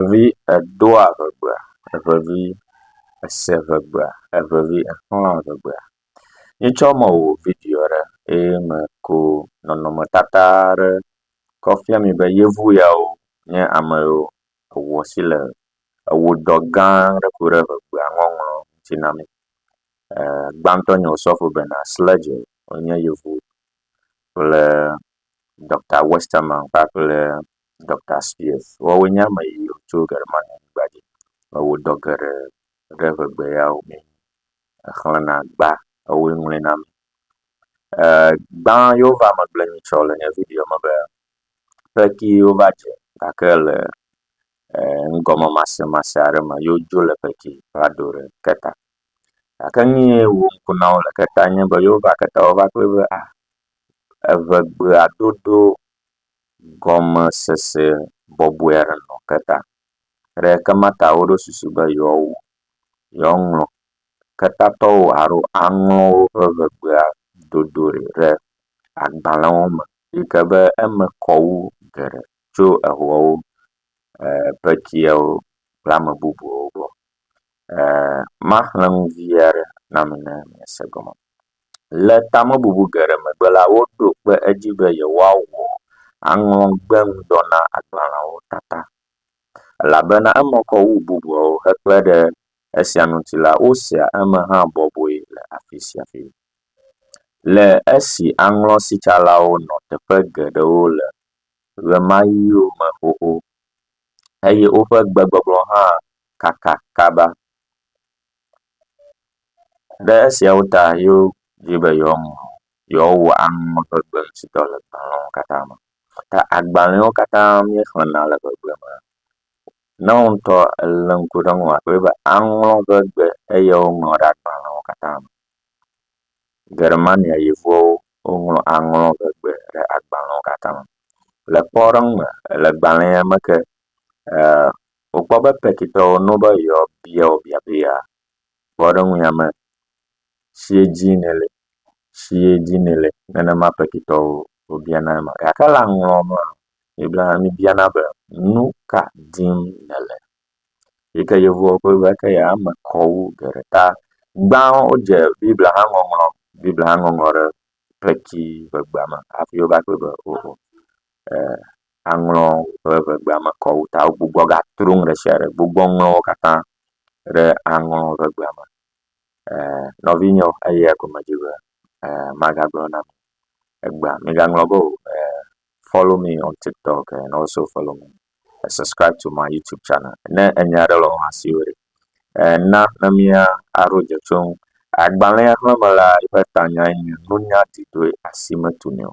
Evevi edoa ŋegbea, evevi ese ŋegbea, evevi exlɔa ŋegbea. Míetsɔ mɔ wɔ video aɖe eye me ko nɔnɔmetata aɖe kɔ fia mi be yevu yawo nye ame yiwo ewɔ asi le ewɔ dɔ gã aɖe ku ɖe ŋegbea ŋɔŋlɔ ŋuti na mi. E gbãtɔ nye Osɔfo Bernard Sledge wonye yevu kple Ɖɔkta Westerman kpakple Doctor Spears. Woawo nye ame yiwo tso Germanyigba dzi eye wodɔ geɖe ɖe ŋegbe yawo me hexlẽna gbã eye woŋlɔe na mi. Ee gbã yewo va me gblɔ nyitsɔ le nye videoa me be, Xexi wova dze gake le ee nugɔmemasemase aɖe me ye wodzo le xexi va do ɖe keta. Gake nu ye wɔ ŋku na wo le keta nye be yewova keta wova kpɔe be a eŋegbea dodo gɔmesese bɔbɔe aɖe nɔ ke ta. Le ke ma ta woɖo susu be yewoawu, yewoaŋlɔ ketatɔwo alo aŋlɔ woƒe eŋegbea dodo ɖi ɖe agbalẽwo me yi ke be eme kɔ wu geɖe tso eŋuawo e pekiawo kple ame bubuwo gbɔ. E maxlẽ nu vi aɖe na mi ne miase gɔme. Le tamebubu geɖe megbe la, woɖo kpe edzi be yewoawɔ aŋlɔgbe ŋudɔ na agbalẽawo katã. Elabena eme kɔ wu bubuawo hekpe ɖe esia ŋuti la, wosea eme hã bɔbɔe le afi sia afi. Le esi aŋlɔsitsalawo nɔ teƒe geɖewo le ɣemaɣiwo me xoxo eye woƒe gbegbɔgblɔ hã kaka kaba Ɖe esiawo ta yewo di be yewoaŋlɔ yewoawɔ amewo ƒe gbe ŋuti dɔ le agbalẽwo katã me. Ta agbalẽwo katã míexlẽna le gbegblẽ me. Ne wò ŋutɔ èlé ŋku ɖe eŋu akpɔe be aŋlɔ eƒe gbe eye woŋlɔ ɖe agbalẽwo katã me. Germania yevuwo woŋlɔ aŋlɔ woƒe gbe ɖe agbalẽwo katã me. Le kpɔɖeŋu me le agbalẽa me ke ee… wòkpɔ be Petitɔ wo no be yewoa bia wo biabia. Kpɔɖeŋu ya me, tsie dzi nèle, tsie dzi nèle, nenema Petitɔ wo wobiana ema. Gake le aŋlɔ me la, Biblia mi biana be, nu ka dim nèle? Yi ke Yevuwo ƒe Biblia ke ya me kɔ wu geɖe ta. Gbã wodze Biblia hã ŋɔŋlɔ, Biblia hã ŋɔŋlɔ ɖe kpetsi ƒe gbea me hafi wova kpɔe be, oo, e, aŋlɔ woƒe ŋegbea me kɔ wu ta wogbugbɔ gatro nu ɖe sia ɖe gbugbɔ ŋlɔ wo katã ɖe aŋlɔ ŋegbea me. E nɔvinyewo eya gɔme dzi be e magagblɔ na mi egbea migaŋlɔ be o e follow me on tiktok and also follow me e subscribe to my YouTube channel. Ne enya aɖe le wòa si wòɖi e na ne mia aɖo dze tso ŋu. Agbalẽa xlẽme la eƒe tanyae nye nunya didoe asi metuni o.